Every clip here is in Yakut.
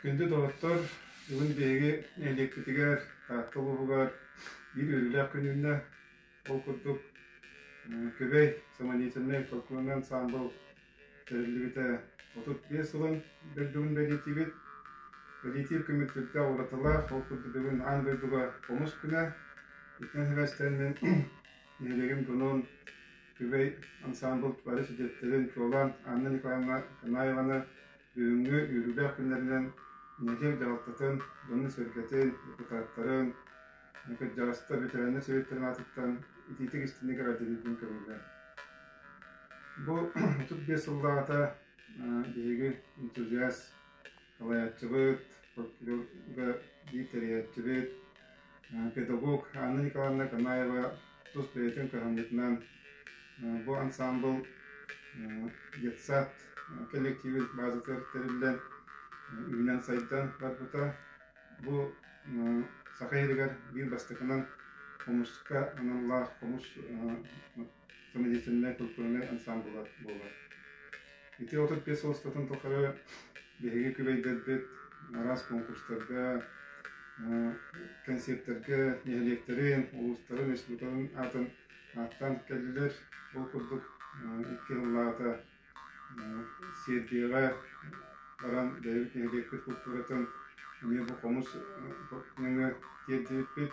Күндү доҕоттор, бүгүн биһиги нэһилиэкпитигэр, Таатта улууһугар биир үөрүүлээх күнүннэ ол курдук Күбэй самодеятельнай фольклорнай ансаамбыл Тэриллибитэ отут биэс сылын дойдубун бэлиэтиибит. Бэлиэтиир күммүт сүрдээх уратылаах, ол курдук бүгүн аан дойдуга хомус күнэ. Итинэн сибээстэн мин нэһилиэгим Дунун күбэй ансаамбыл бары сүдүөттэрин, чуолаан Анна Николаевна Канаеваны бүгүҥҥү үөрүүлээх күннэринэн нэһилиэк дьаһалтатын, дьонун-сэргэтин, депутаттарын, Кырдьаҕастар ветеринар сэбиэттэрин аатыттан итиитик истинник эҕэрдэлиирбин көрөллөр. Бу отут биэс сыллааҕыта биһиги энтузиаст, салайааччыбыт, прокурорга биир тэрийээччибит, педагог Анна Николаевна Канаева тус бэйэтин кыһамньытынан бу ансаамбыл детсад кэлэктииби баазатыгар тэриллэн, үүнэн-сайдан барбыта. Бу Саха иһигэр биир бастакынан хомуска аналлаах хомус самодеятельнай культурнай ансаамбыла буолар. Ити отут биэс устатын тухары биһиги күбэйдэрбит араас конкурстарга, кэнсиэртэргэ нэһилиэктэрин, улуустарын, республикаларын аатын ааттаан кэллилэр. Ол курдук икки сыллааҕыта Сиэрдийэҕэ баран бэйэбит нэһилиэкпит култууратын эмиэ бу хомус нөҥүө тиэрдибиппит.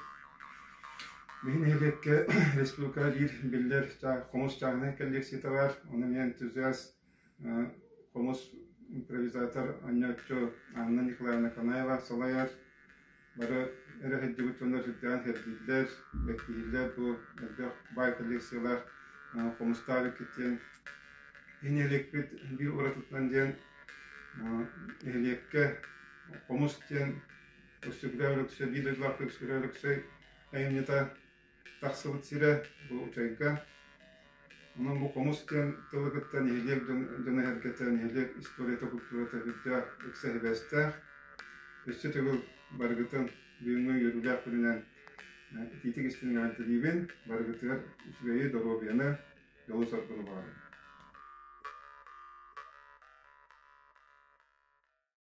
Биһи нэһилиэккэ республикаҕа биир биллэр хомус чааһынай коллекцията баар, ону эмиэ энтузиаст хомус импровизатор, оонньооччу Анна Николаевна Канаева салайар. Бары эрэ сылдьыбыт дьоннор сылдьан сэрдииллэр, эттииллэр бу элбэх баай коллекциялар хомустаах иккитиэн иниэликпит биир уратытынан диэн нэһилиэккэ хомус диэн өксөкүлэ Өлөксөй, биир дойдулаахтык Өксөкүлэ Өлөксөй айымньыта тахсыбыт сирэ бу учайга. Онон бу хомус диэн тылыгыттан нэһилиэк дьоно-сэргэтэ, нэһилиэк историята-культурата үрдээх, ыкса сибээстээх. Өссө төгүл барыгытын бүгүҥҥү үөрүүлээх күнүнэн итиитик истин эҕэрдэлиибин, барыгытыгар үчүгэйи, доруобуйаны, дьолу-соргуну баҕарабын.